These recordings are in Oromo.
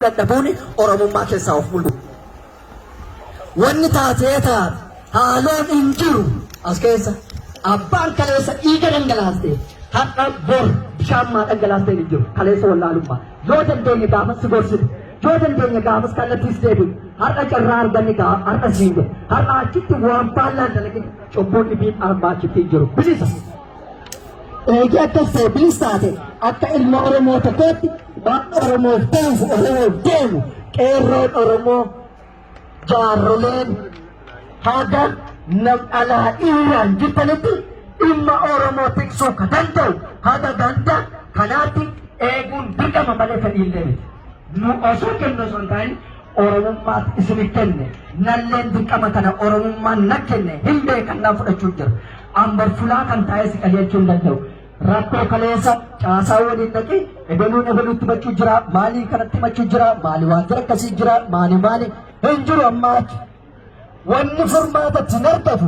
dadhabuun Oromummaa keessaa of mul'u. Wanni taatee taate haaloon hin jiru as keessa abbaan kaleessa dhiiga dhangalaaste har'a bor bishaan maa dhangalaaste hin jiru kaleessa wallaalummaa yoo dandeenye gaafas si gorsitu yoo dandeenye gaafas kallattiis deebiin har'a carraa arganne gaaf har'a siin jedhe har'a achitti waan baallaan dalagin cubbuun dhibiin armaa achitti hin jiru bilisa. eegee akka ta'e bilis taate akka ilma Oromoo tokkootti waan Oromoof ta'uuf Oromoof deemu qeerroon Oromoo jaarroleen haga nam alaa dhiiraan jirtanitti dhimma Oromoo tiksuu ka danda'u haga ganda kanaatti eeguun dirqama malee fedhiillee miti. Nu osoo kennu osoo hin taane Oromummaaf isinif kenne nalleen dirqama kana Oromummaan na kenne hin beekan nan fudhachuu jira. Ambar fulaa kan taa'ee si qajeelchuu hin danda'u. Rakkoo kaleessa caasaa waliin dhaqi ebeluun ebeluutti machuu jira maalii kanatti machuu jira maali waajjira akkasii jira maali maali hin jiru ammaa achi. Wanni furmaata ittiin argatu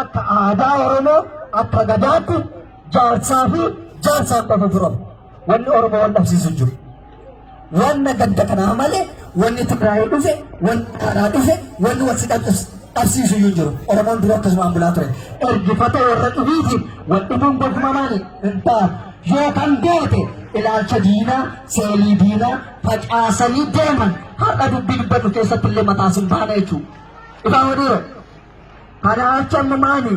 akka aadaa Oromoo akka gadaatti jaarsaa fi jaarsaan qofa furamu. Wanni Oromoo wal dhabsiisu jiru. Wanna ganda kanaa malee wanni Tigraayii dhufe, wanni Amaaraa dhufe, wanni wal si dhabsiis- dhabsiisu iyyuu hin jiru. Oromoon dura akkasumaan bulaa ture. Ergifata warra dhibiitiin wal dhibuun gofuma maali? Hin ta'a. Yoo kan beekte ilaalcha diinaa, seelii diinaa facaasanii deeman har'a dubbii dubbatu keessatti illee mataa sin baana jechuudha. Ifaa wadiiroo. Kana jechuun immoo maali?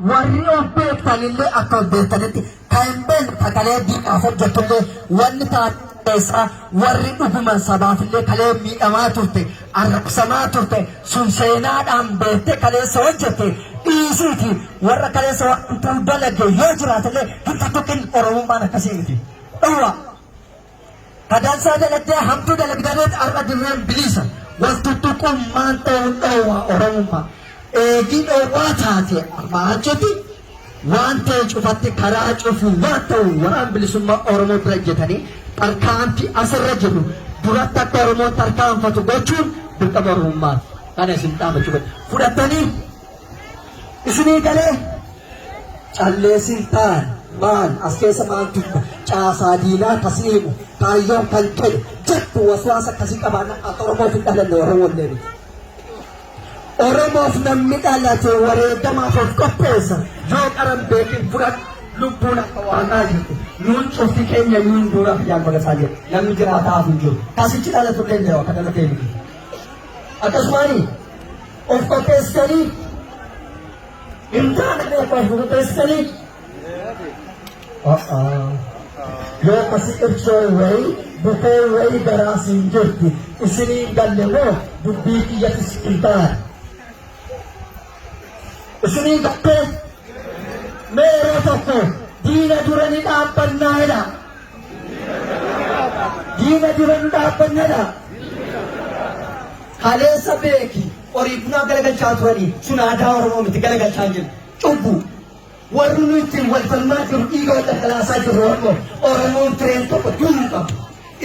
Warri of beektan illee akka of beektanitti kan hin beekne sagalee diinaaf hojjetu illee wanni taasisaa warri dhuguman sabaaf illee kalee miidhamaa turte arrabsamaa turte sun seenaadhaan beektee kaleessa hojjette dhiisiiti warra kaleessa wantuu dalage yoo jiraate illee hin tuttuqin oromummaan akkasii miti. Dhowwaa! Badansaa dalagdee hamtuu dalagdaneet har'a dirreen biliisa. Wal tuttuquun maal ta'uun dhoowwaa Oromummaa. Eegii dhoowwaa taatee armaa achitti waan ta'e cufatti karaa cufuu waan ta'u waraan bilisummaa Oromoo bira ejjetanii tarkaanfii asirra jiru duratti akka Oromoon tarkaanfatu gochuun dirqama Oromummaati. Kana isin dhaamachuu fedha. Fudhattanii Isinii galee calleessi taan maal as keessa maal dubba caasaa diinaa kasii himu kaayyoon kan jedhu jettu waswaasa kasii qabaana akka Oromoof hin dhalanne warra wallee miti. Oromoof namni dhalate wareegamaaf of qopheessa yoo qaran beekin fudhatu lubbuun akka waaqaa jirti nuun cufti keenya nuun duura fiyyaan godhasaa jiru namni jiraataa hin jiru kasichi dhalatu danda'u akka dhalatee miti. Akkasumaanii Of qopheessitanii hin taane qofa of qopheessitanii yoo akkasi ibsoo wayii bukoo wayii garaa siin jirti isinii hin galle moo dubbii kiyyatis hin taane isinii hin galle mee yeroo tokko diina dura ni dhaabbannaa jedha Diina dura nu dhaabbannadha. Kaleessa beeki horii bunaa galagalchaa turanii sun aadaa Oromoo miti galagalchaa jiru. Cubbu warri nu ittiin wal falmaa jiru dhiiga wal dhangalaasaa jiru Oromoo Oromoon tireen tokko du'uu qabu.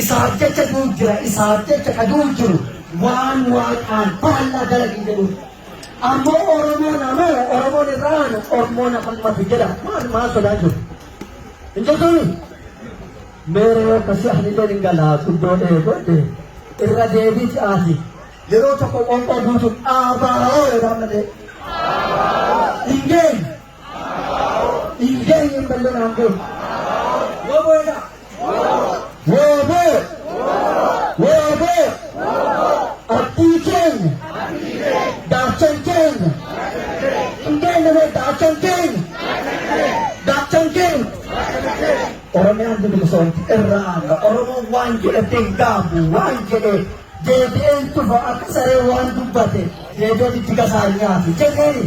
Isaaf jecha du'u jira isaaf jecha ka du'u jiru waan waaqaan faallaa dalagii jedhu. Ammoo Oromoon ammoo Oromoon irraa aanu Oromoon afaan matu jedha maal maal sodaa jiru. Hin jettuuni? Meeree yoo akkasii ani illee hin galaa guddoo dhee godhe irra deebii si'aati. Yeroo tokko qoonqoo guutuun abaa'oo jedhaa malee. Hin geenye. Hin geenye hin ballee naan geenye. Yoo booda. Woobo! Woobo! Abdii keenya! Daachan keenya! Hundeen nama daachan keenya! Daachan keenya! Oromiyaan bilisoomti irraa amma Oromoon waan jedhate hin gaabu waan jedhe deebi'een tufa akka saree waan dubbate deebi'een itti gasaa hin nyaatu jenneeni